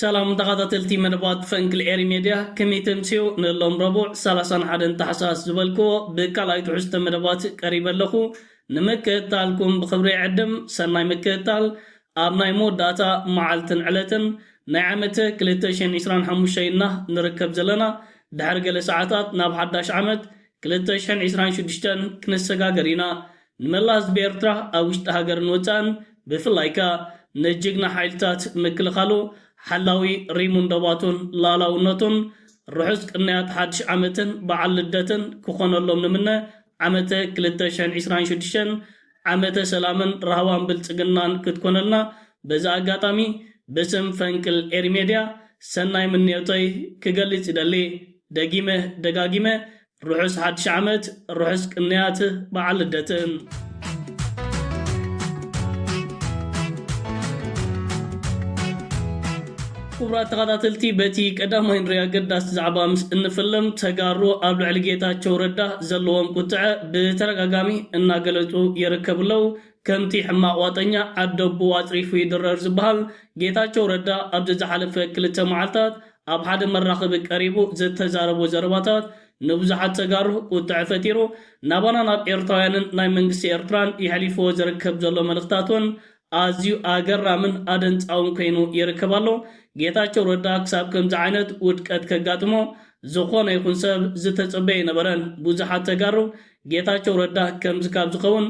ሰላም ተኻታተልቲ መደባት ፈንቅል ኤሪ ሜድያ ከመይ ተምስዮ ንሎም ረቡዕ ሳላሳን ሓደን ታሕሳስ ዝበልክዎ ብካልኣይ ትሕዝቶ መደባት ቀሪበ ኣለኹ ንምክእታልኩም ብኽብሪ እዕድም ሰናይ ምክእታል ኣብ ናይ መወዳእታ መዓልትን ዕለትን ናይ ዓመተ ክልተ ሽሕን ዕስራን ሓሙሽተይ እና ንርከብ ዘለና ድሕሪ ገለ ሰዓታት ናብ ሓዳሽ ዓመት ክልተ ሽሕን ዕስራን ሽዱሽተን ክንሰጋገር ኢና ንመላእ ህዝቢ ኤርትራ ኣብ ውሽጢ ሃገርን ወጻእን ብፍላይ ከኣ ንጅግና ሓይልታት ምክልኻሉ ሓላዊ ሪሙን ዶባቱን ሉኣላውነቱን ርሑስ ቅንያት ሓድሽ ዓመትን በዓል ልደትን ክኾነሎም ንምነ ዓመተ ክልተ ሽሕን ዕስራን ሽዱሽተን ዓመተ ሰላምን ራህዋን ብልጽግናን ክትኮነልና በዚ ኣጋጣሚ ብስም ፈንቅል ኤሪሜድያ ሰናይ ምንዮተይ ክገልጽ ይደሊ ደጊመ ደጋጊመ ርሑስ ሓድሽ ዓመት ርሑስ ቅንያት በዓል ልደትን ክቡራት ተኸታተልቲ በቲ ቀዳማይ ንሪኦ ኣገዳሲ ዛዕባ ምስ እንፍልም ተጋሩ ኣብ ልዕሊ ጌታቸው ረዳ ዘለዎም ቁጥዐ ብተደጋጋሚ እናገለፁ ይርከቡ ኣለዉ። ከምቲ ሕማቕ ዋጠኛ ዓደቡ ኣፅሪፉ ይድረር ዝበሃል ጌታቸው ረዳ ኣብዚ ዝሓለፈ ክልተ መዓልታት ኣብ ሓደ መራኸቢ ቀሪቡ ዝተዛረቦ ዘረባታት ንብዙሓት ተጋሩ ቁጥዐ ፈጢሩ፣ ናባና ናብ ኤርትራውያንን ናይ መንግስቲ ኤርትራን የሕሊፍዎ ዝርከብ ዘሎ መልእኽታት ውን ኣዝዩ ኣገራምን ኣደንጻውን ኮይኑ ይርከብ ኣሎ። ጌታቸው ረዳ ክሳብ ከምዚ ዓይነት ውድቀት ከጋጥሞ ዝኾነ ይኹን ሰብ ዝተጸበየ ኣይነበረን። ብዙሓት ተጋሩ ጌታቸው ረዳ ከምዚ ካብ ዝኸውን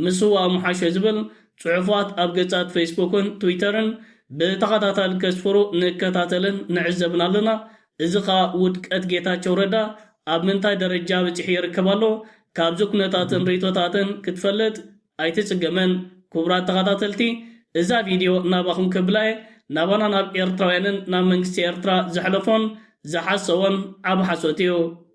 ምስዋእ ምሓሾ ዝብል ጽሑፋት ኣብ ገጻት ፈይስቡክን ትዊተርን ብተኸታታሊ ከስፍሩ ንከታተልን ንዕዘብን ኣለና። እዚ ከኣ ውድቀት ጌታቸው ረዳ ኣብ ምንታይ ደረጃ በጺሑ ይርከብ ኣሎ ካብዚ ኩነታትን ርኢቶታትን ክትፈልጥ ኣይትጽገምን። ኩቡራት ተኸታተልቲ እዛ ቪድዮ ናባኹም ከብላ'የ ናባና ናብ ኤርትራውያንን ናብ መንግስቲ ኤርትራ ዘሕለፎን ዝሓሰዎን ዓቢ ሓሶት'ዩ።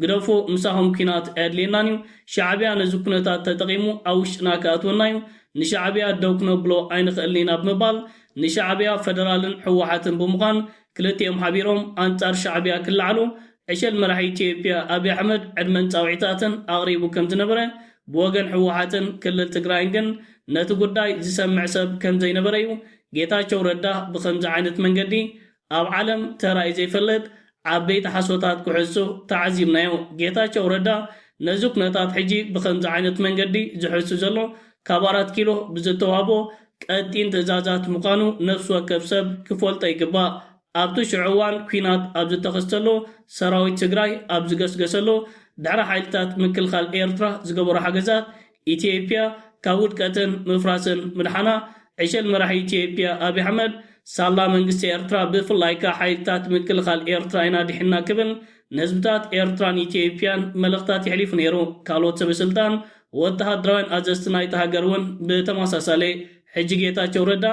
ግደፎ ምሳኹም ኩናት ኣየድልየናን እዩ ሻዕብያ ነዚ ኩነታት ተጠቒሙ ኣብ ውሽጥና ክኣትወና እዩ ንሻዕብያ ደው ክነብሎ ኣይንኽእልን ኢና ብምባል ንሻዕብያ ፈደራልን ህወሓትን ብምዃን ክልቲኦም ሓቢሮም ኣንጻር ሻዕብያ ክለዓሉ ዕሸል መራሒ ኢትዮጵያ ኣብይ ኣሕመድ ዕድመን ጻውዒታትን ኣቕሪቡ ከምዝነበረ ብወገን ህወሓትን ክልል ትግራይን ግን ነቲ ጉዳይ ዝሰምዕ ሰብ ከምዘይነበረ እዩ ጌታቸው ረዳ ብኸምዚ ዓይነት መንገዲ ኣብ ዓለም ተራእዩ ዘይፈልጥ ዓበይቲ ሓሶታት ክሕሱ ተዓዚብናዮ። ጌታቸው ረዳ ነዚ ኩነታት ሕጂ ብኸምዚ ዓይነት መንገዲ ዝሕሱ ዘሎ ካብ ኣራት ኪሎ ብዝተዋህቦ ቀጢን ትእዛዛት ምዃኑ ነፍሲ ወከፍ ሰብ ክፈልጦ ይግባእ። ኣብቲ ሽዑ እዋን ኲናት ኣብ ዝተኸስተሉ ሰራዊት ትግራይ ኣብ ዝገስገሰሉ ድሕሪ ሓይልታት ምክልኻል ኤርትራ ዝገበሮ ሓገዛት ኢትዮጵያ ካብ ውድቀትን ምፍራስን ምድሓና ዕሸል መራሒ ኢትዮጵያ ኣብይ ኣሕመድ ሳላ መንግስቲ ኤርትራ ብፍላይ ከኣ ሓይልታት ምክልኻል ኤርትራ ኢና ኣድሒንና ክብል ንህዝብታት ኤርትራን ኢትዮጵያን መልእኽታት የሕሊፉ ነይሩ። ካልኦት ሰበስልጣን ወተሃደራውያን ኣዘዝቲ ናይታ ሃገር እውን ብተመሳሳሊ። ሕጂ ጌታቸው ረዳ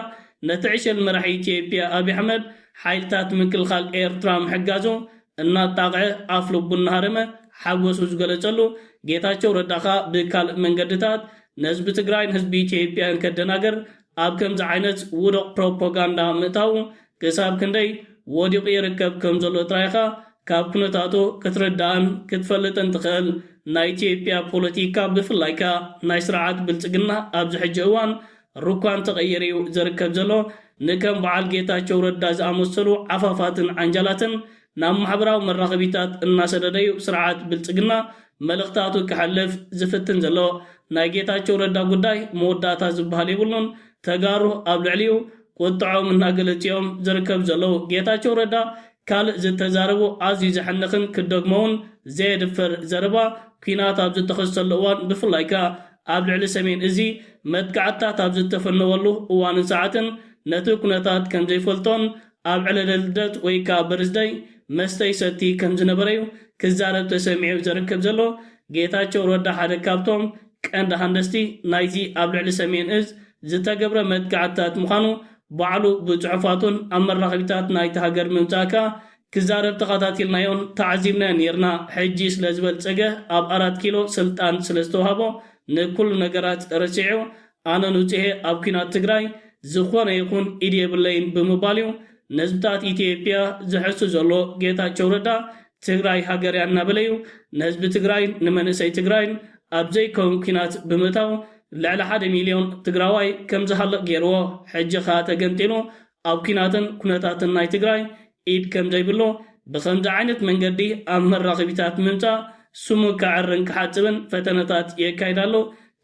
ነቲ ዕሸል መራሒ ኢትዮጵያ ኣብይ ኣሕመድ ሓይልታት ምክልኻል ኤርትራ ምሕጋዙ እናጣቕዐ ኣፍ ልቡ እናሃረመ ሓጎሱ ዝገለፀሉ ጌታቸው ረዳ ከዓ ብካልእ መንገድታት ንህዝቢ ትግራይን ህዝቢ ኢትዮጵያን ከደናግር ኣብ ከምዚ ዓይነት ውዱቕ ፕሮፖጋንዳ ምእታዉ ክሳብ ክንደይ ወዲቑ ይርከብ ከም ዘሎ ጥራይ ኢኻ ካብ ኩነታቱ ክትርዳእን ክትፈልጥን ትኽእል። ናይ ኢትዮጵያ ፖለቲካ ብፍላይ ከዓ ናይ ስርዓት ብልፅግና ኣብዚ ሕጂ እዋን ርኳ እንተቐይር እዩ ዘርከብ ዘሎ። ንከም በዓል ጌታቸው ረዳ ዝኣመሰሉ ዓፋፋትን ዓንጃላትን ናብ ማሕበራዊ መራኸቢታት እናሰደደ እዩ ስርዓት ብልፅግና መልእኽታቱ ከሕልፍ ዝፍትን ዘሎ። ናይ ጌታቸው ረዳ ጉዳይ መወዳእታ ዝበሃል የብሉን። ተጋሩ ኣብ ልዕሊኡ ቁጠዐኦም እናገለፁ እዮም ዝርከቡ ዘለዉ። ጌታቸው ረዳ ካልእ ዝተዛረቦ ኣዝዩ ዘሕንኽን ክደግሞ'ውን ዘየድፍር ዘረባ ኲናት ኣብ ዝተኸሰተሉ እዋን ብፍላይ ከኣ ኣብ ልዕሊ ሰሜን እዚ መጥቃዕትታት ኣብ ዝተፈነወሉ እዋንን ሰዓትን ነቲ ኩነታት ከም ዘይፈልጦን ኣብ ዕለለ ልደት ወይ ከኣ በርዝደይ መስተ ይሰቲ ከም ዝነበረ'ዩ ክዛረብ ተሰሚዑ ዘርክብ ዘሎ ጌታቸው ረዳ ሓደ ካብቶም ቀንዲ ሃንደስቲ ናይዚ ኣብ ልዕሊ ሰሜን እዝ ዝተገብረ መጥቃዕትታት ምዃኑ ባዕሉ ብጽሑፋቱን ኣብ መራኸቢታት ናይቲ ሃገር ምምጻእካ ክዛረብ ተኻታቲልናዮን ተዓዚብናዮን ኔርና ሕጂ ስለ ዝበልጸገ ኣብ ኣራት ኪሎ ስልጣን ስለ ዝተውሃቦ ንኩሉ ነገራት ረሲዑ ኣነ ንጹሔ ኣብ ኩናት ትግራይ ዝኾነ ይኹን ኢድ የብለይን ብምባልዩ ንህዝብታት ኢትዮጵያ ዝሕሱ ዘሎ ጌታቸው ረዳ ትግራይ ሃገርያ እናበለዩ ንህዝቢ ትግራይን ንመንእሰይ ትግራይን ኣብዘይከውን ኩናት ብምእታው ልዕሊ ሓደ ሚልዮን ትግራዋይ ከምዝሃልቅ ጌርዎ ሕጂ ከኣ ተገንጢሉ ኣብ ኩናትን ኩነታትን ናይ ትግራይ ኢድ ከም ዘይብሎ ብኸምዚ ዓይነት መንገዲ ኣብ መራኸቢታት ምምጻእ ስሙ ከዐርን ክሓጽብን ፈተነታት የካይድ ኣሎ።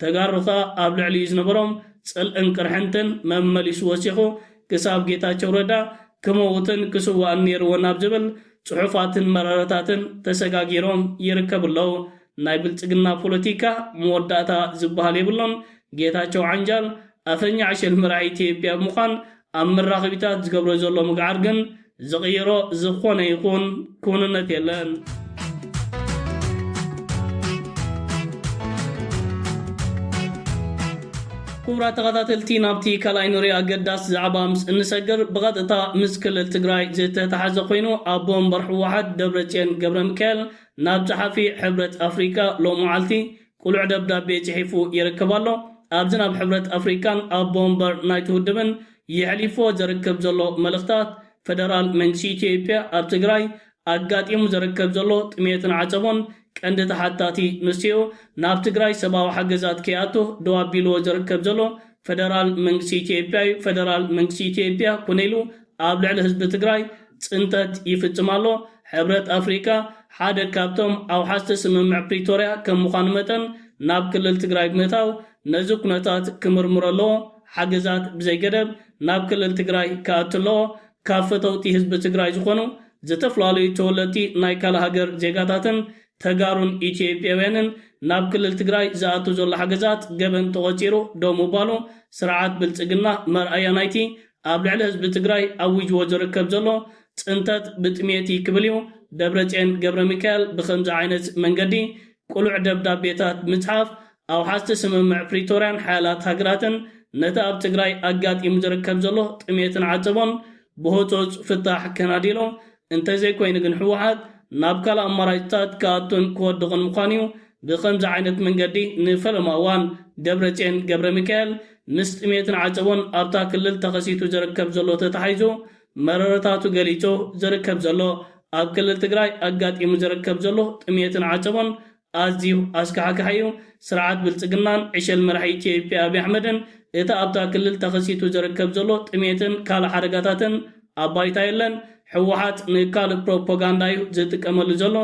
ተጋሩ ከኣ ኣብ ልዕሊኡ ዝነበሮም ጽልእን ቅርሕንትን መመሊሱ ወሲኹ ክሳብ ጌታቸው ረዳ ክመውትን ክስዋእን ነይርዎ ናብ ዝብል ጽሑፋትን መረረታትን ተሰጋጊሮም ይርከቡ ኣለዉ። ናይ ብልፅግና ፖለቲካ መወዳእታ ዝበሃል የብሉን። ጌታቸው ዓንጃል፣ ኣፈኛ ዕሸል መራሒ ኢትዮጵያ ብምዃን ኣብ መራኸቢታት ዝገብሮ ዘሎ ምግዓር ግን ዝቕይሮ ዝኾነ ይኹን ክውንነት የለን። ክቡራት ተኸታተልቲ ናብቲ ካልኣይ ንሪኦ ኣገዳሲ ዛዕባ ምስ እንሰግር ብቐጥታ ምስ ክልል ትግራይ ዝተተሓዘ ኮይኑ ኣቦ ወንበር ህወሓት ደብረፅዮን ገብረሚካኤል ናብ ጸሓፊ ሕብረት ኣፍሪቃ ሎም መዓልቲ ቅሉዕ ደብዳቤ ጽሒፉ ይርከብ ኣሎ። ኣብዚ ናብ ሕብረት ኣፍሪቃን ኣቦ ወንበር ናይቲ ውድብን የሕሊፍዎ ዘርክብ ዘሎ መልእኽታት፣ ፈደራል መንግስቲ ኢትዮጵያ ኣብ ትግራይ ኣጋጢሙ ዘርክብ ዘሎ ጥሜትን ዓጸቦን ቀንዲ ተሓታቲ ንሱ'ዩ፣ ናብ ትግራይ ሰብኣዊ ሓገዛት ከይኣቱ ደው ኣቢልዎ ዘርክብ ዘሎ ፈደራል መንግስቲ ኢትዮጵያ'ዩ፣ ፈደራል መንግስቲ ኢትዮጵያ ኮነ ኢሉ ኣብ ልዕሊ ህዝቢ ትግራይ ፅንተት ይፍፅም ኣሎ፣ ሕብረት ኣፍሪካ ሓደ ካብቶም ኣውሓስቲ ስምምዕ ፕሪቶርያ ከም ምዃኑ መጠን ናብ ክልል ትግራይ ብምእታው ነዚ ኩነታት ክምርምሮ ኣለዎ፣ ሓገዛት ብዘይገደብ ናብ ክልል ትግራይ ክኣቱ ኣለዎ፣ ካብ ፈተውቲ ህዝቢ ትግራይ ዝኾኑ ዝተፍላለዩ ተወለድቲ ናይ ካልእ ሃገር ዜጋታትን ተጋሩን ኢትዮጵያውያንን ናብ ክልል ትግራይ ዝኣቱ ዘሎ ሓገዛት ገበን ተቖፂሩ ደው ምባሉ ስርዓት ብልፅግና መርኣያ ናይቲ ኣብ ልዕሊ ህዝቢ ትግራይ ኣዊጅዎ ዝርከብ ዘሎ ፅንተት ብጥምየት እዪ ክብል እዩ ደብረፅዮን ገብረሚካኤል ብኸምዚ ዓይነት መንገዲ ቅሉዕ ደብዳቤታት ብምፅሓፍ ኣውሓስቲ ስምምዕ ፕሪቶርያን ሓያላት ሃገራትን ነቲ ኣብ ትግራይ ኣጋጢሙ ዝርከብ ዘሎ ጥምየትን ዓፀቦን ብህፁፅ ፍታሕ ከናድይሉ እንተዘይኮይኑ ግን ህወሓት ናብ ካልእ ኣማራጭታት ክኣቱን ክወድቕን ምዃኑ እዩ። ብኸምዚ ዓይነት መንገዲ ንፈለማ እዋን ደብረጼን ገብረሚካኤል ምስ ጥሜትን ዓፀቦን ኣብታ ክልል ተኸሲቱ ዝርከብ ዘሎ ተተሓሒዙ መረረታቱ ገሊፁ ዝርከብ ዘሎ ኣብ ክልል ትግራይ ኣጋጢሙ ዝርከብ ዘሎ ጥሜትን ዓፀቦን ኣዝዩ ኣስካሕካሒ እዩ፣ ስርዓት ብልጽግናን ዕሸል መራሒ ኢትዮጵያ ኣብይ ኣሕመድን እቲ ኣብታ ክልል ተኸሲቱ ዝርከብ ዘሎ ጥሜትን ካልእ ሓደጋታትን ኣብ ባይታ የለን፣ ህወሓት ንካልእ ፕሮፖጋንዳ እዩ ዝጥቀመሉ ዘሎ፣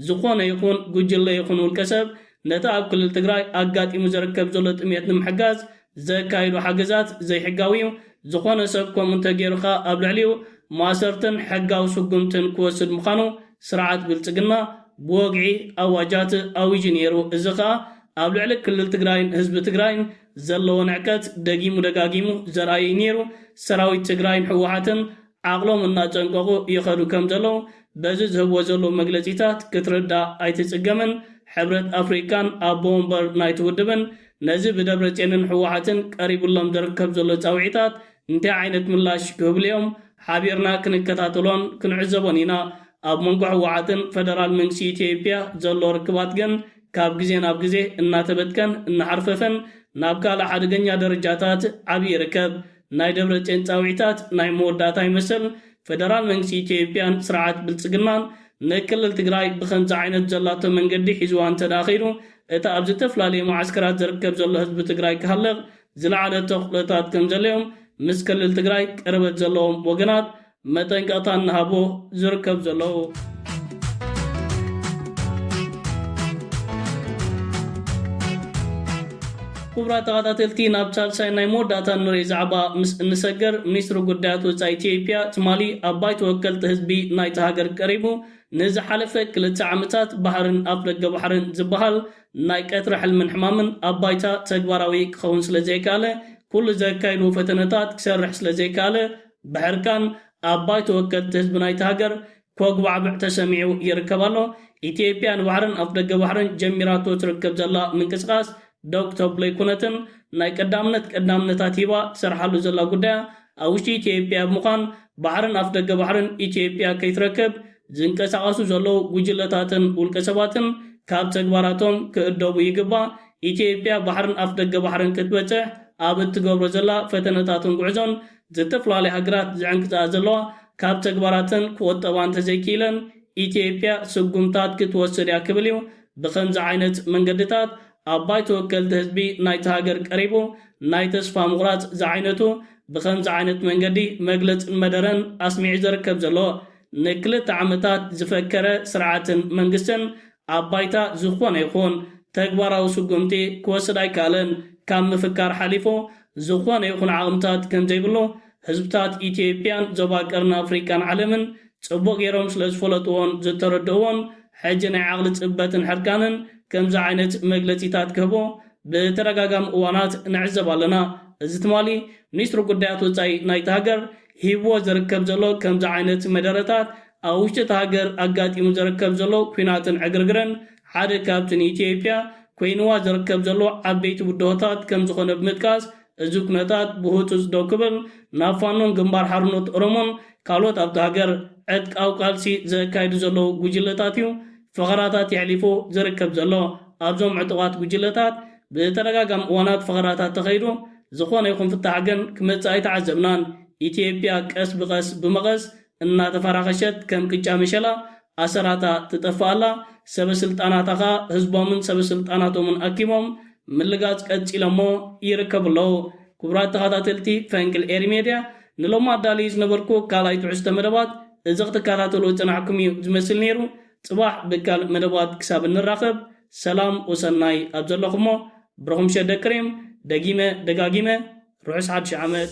ዝኾነ ይኹን ጉጅለ ይኹን ውልቀሰብ ነቲ ኣብ ክልል ትግራይ ኣጋጢሙ ዘርከብ ዘሎ ጥሜት ንምሕጋዝ ዘካይዶ ሓገዛት ዘይሕጋዊ እዩ፣ ዝኾነ ሰብ ከምኡ እንተገይሩ ከኣ ኣብ ልዕሊኡ ማእሰርትን ሕጋዊ ስጉምትን ክወስድ ምዃኑ ስርዓት ብልጽግና ብወግዒ ኣዋጃት ኣዊጁ ነይሩ፣ እዚ ከኣ ኣብ ልዕሊ ክልል ትግራይን ህዝቢ ትግራይን ዘለዎ ንዕቀት ደጊሙ ደጋጊሙ ዘርኣየ እዩ ነይሩ፣ ሰራዊት ትግራይን ህወሓትን ዓቕሎም እናጨንቀቑ ይኸዱ ከም ዘለዉ በዚ ዝህብዎ ዘለዉ መግለጺታት ክትርዳእ ኣይትጽገምን። ሕብረት ኣፍሪቃን ኣቦ ወንበር ናይቲ ውድብን ነዚ ብደብረጽዮንን ህወሓትን ቀሪብሎም ዝርከብ ዘሎ ጻውዒታት እንታይ ዓይነት ምላሽ ክህብሉ'ዮም ሓቢርና ክንከታተሎን ክንዕዘቦን ኢና። ኣብ መንጎ ህወሓትን ፈደራል መንግስቲ ኢትዮጵያ ዘሎ ርክባት ግን ካብ ግዜ ናብ ግዜ እናተበትከን እናሓርፈፈን ናብ ካልእ ሓደገኛ ደረጃታት ዓብዩ ይርከብ። ናይ ደብረጼን ጻውዒታት ናይ መወዳእታ ይመሰል፣ ፈደራል መንግስቲ ኢትዮጵያን ስርዓት ብልጽግናን ንክልል ትግራይ ብኸምዚ ዓይነት ዘላቶ መንገዲ ሒዝዋ እንተድኣ ከይዱ እቲ ኣብ ዝተፍላለየ መዓስከራት ዝርከብ ዘሎ ህዝቢ ትግራይ ክሃልቕ ዝለዓለ ተኽእሎታት ከምዘለዮም ምስ ክልል ትግራይ ቅርበት ዘለዎም ወገናት መጠንቀቕታ እናሃቡ ዝርከብ ዘለዉ። ክቡራት ተኻታተልቲ ናብ ሳልሳይ ናይ መወዳእታ ንርኢ ዛዕባ ምስ እንሰገር ሚኒስትሪ ጉዳያት ወፃኢ ኢትዮጵያ ትማሊ ኣብ ባይቶ ወከልቲ ህዝቢ ናይቲ ሃገር ቀሪቡ ንዝሓለፈ ክልተ ዓመታት ባሕርን ኣፍደገ ባሕርን ዝበሃል ናይ ቀትሪ ሕልምን ሕማምን ኣብ ባይታ ተግባራዊ ክኸውን ስለዘይከኣለ ኩሉ ዘካይድዎ ፈተነታት ክሰርሕ ስለዘይከኣለ ብሕርቃን ኣብ ባይቶ ወከልቲ ህዝቢ ናይታ ሃገር ኮጉባዕብዕ ተሰሚዑ ይርከብ ኣሎ። ኢትዮጵያ ንባሕርን ኣፍደገ ባሕርን ጀሚራቶ ትርከብ ዘላ ምንቅስቓስ ደው ክተብሎ'ዩ ኩነትን ናይ ቀዳምነት ቀዳምነታት ሂባ ትሰርሓሉ ዘላ ጉዳያ ኣብ ውሽጢ ኢትዮጵያ ብምዃን ባሕርን ኣፍደገ ባሕርን ኢትዮጵያ ከይትረክብ ዝንቀሳቐሱ ዘለዉ ጉጅለታትን ውልቀሰባትን ካብ ተግባራቶም ክእደቡ ይግባእ። ኢትዮጵያ ባሕርን ኣፍደገ ባሕርን ክትበጽሕ ኣብ እትገብሮ ዘላ ፈተነታትን ጉዕዞን ዝተፈላለያ ሃገራት ዝዕንቅጻኣ ዘለዋ ካብ ተግባራተን ክቆጠባ እንተዘይኪኢለን ኢትዮጵያ ስጉምታት ክትወስድ እያ ክብል እዩ ብኸምዚ ዓይነት መንገድታት ኣብ ባይቶ ወከልቲ ህዝቢ ናይታ ሃገር ቀሪቡ ናይ ተስፋ ምቑራጽ ዝዓይነቱ ብኸምዚ ዓይነት መንገዲ መግለጽን መደረን ኣስሚዑ ዘርከብ ዘሎ ንክልተ ዓመታት ዝፈከረ ስርዓትን መንግስትን ኣብ ባይታ ዝኾነ ይኹን ተግባራዊ ስጉምቲ ክወስድ ኣይካለን ካብ ምፍካር ሓሊፉ ዝኾነ ይኹን ዓቕምታት ከምዘይብሉ ህዝብታት ኢትዮጵያን ዞባ ቀርኒ ኣፍሪቃን ዓለምን ጽቡቕ ጌሮም ስለዝፈለጥዎን ዝተረድእዎን ሕጂ ናይ ዓቕሊ ጽበትን ሕርቃንን ከምዚ ዓይነት መግለጺታት ክህቡ ብተደጋጋሚ እዋናት ንዕዘብ ኣለና እዚ ትማሊ ሚኒስትሪ ጉዳያት ወጻኢ ናይታ ሃገር ሂብዎ ዝርከብ ዘሎ ከምዚ ዓይነት መደረታት ኣብ ውሽጢ እታ ሃገር ኣጋጢሙ ዝርከብ ዘሎ ኲናትን ዕግርግርን ሓደ ካብቲ ንኢትዮጵያ ኮይንዋ ዝርከብ ዘሎ ዓበይቲ ብድሆታት ከም ዝኾነ ብምጥቃስ እዚ ኩነታት ብህጹጽ ደው ክብል ናብ ፋኖን ግንባር ሓርኖት ኦሮሞን ካልኦት ኣብታ ሃገር ዕጥቃዊ ቃልሲ ዘካይዱ ዘለዉ ጉጅለታት እዩ ፈኸራታት የሕሊፉ ዝርከብ ዘሎ። ኣብዞም ዕጡቓት ጉጅለታት ብተደጋጋሚ እዋናት ፈኸራታት ተኸይዱ፣ ዝኾነ ይኹን ፍታሕ ግን ክመጽእ ኣይተዓዘብናን። ኢትዮጵያ ቀስ ብቐስ ብመቐስ እናተፈራኸሸት ከም ቅጫ መሸላ ኣሰራታ ትጠፍእ ኣላ። ሰበ ስልጣናታ ከኣ ህዝቦምን ሰበ ስልጣናቶምን ኣኪቦም ምልጋጽ ቀጺሎሞ ይርከቡ ኣለዉ። ክቡራት ተኸታተልቲ ፈንቅል ኤሪ ሜድያ ንሎሚ ኣዳልየዮ ዝነበርኩ ካልኣይ ትሕዝቶ መደባት እዚ ክትከታተልዎ ዝጸናሕኩም እዩ ዝመስል ነይሩ። ጽባሕ ብካልእ መደባት ክሳብ እንራኸብ ሰላም ወሰናይ ኣብ ዘለኹሞ ብረኹምሸ ደቂ ሬም ደጊመ ደጋጊመ ርሑስ ሓድሽ ዓመት።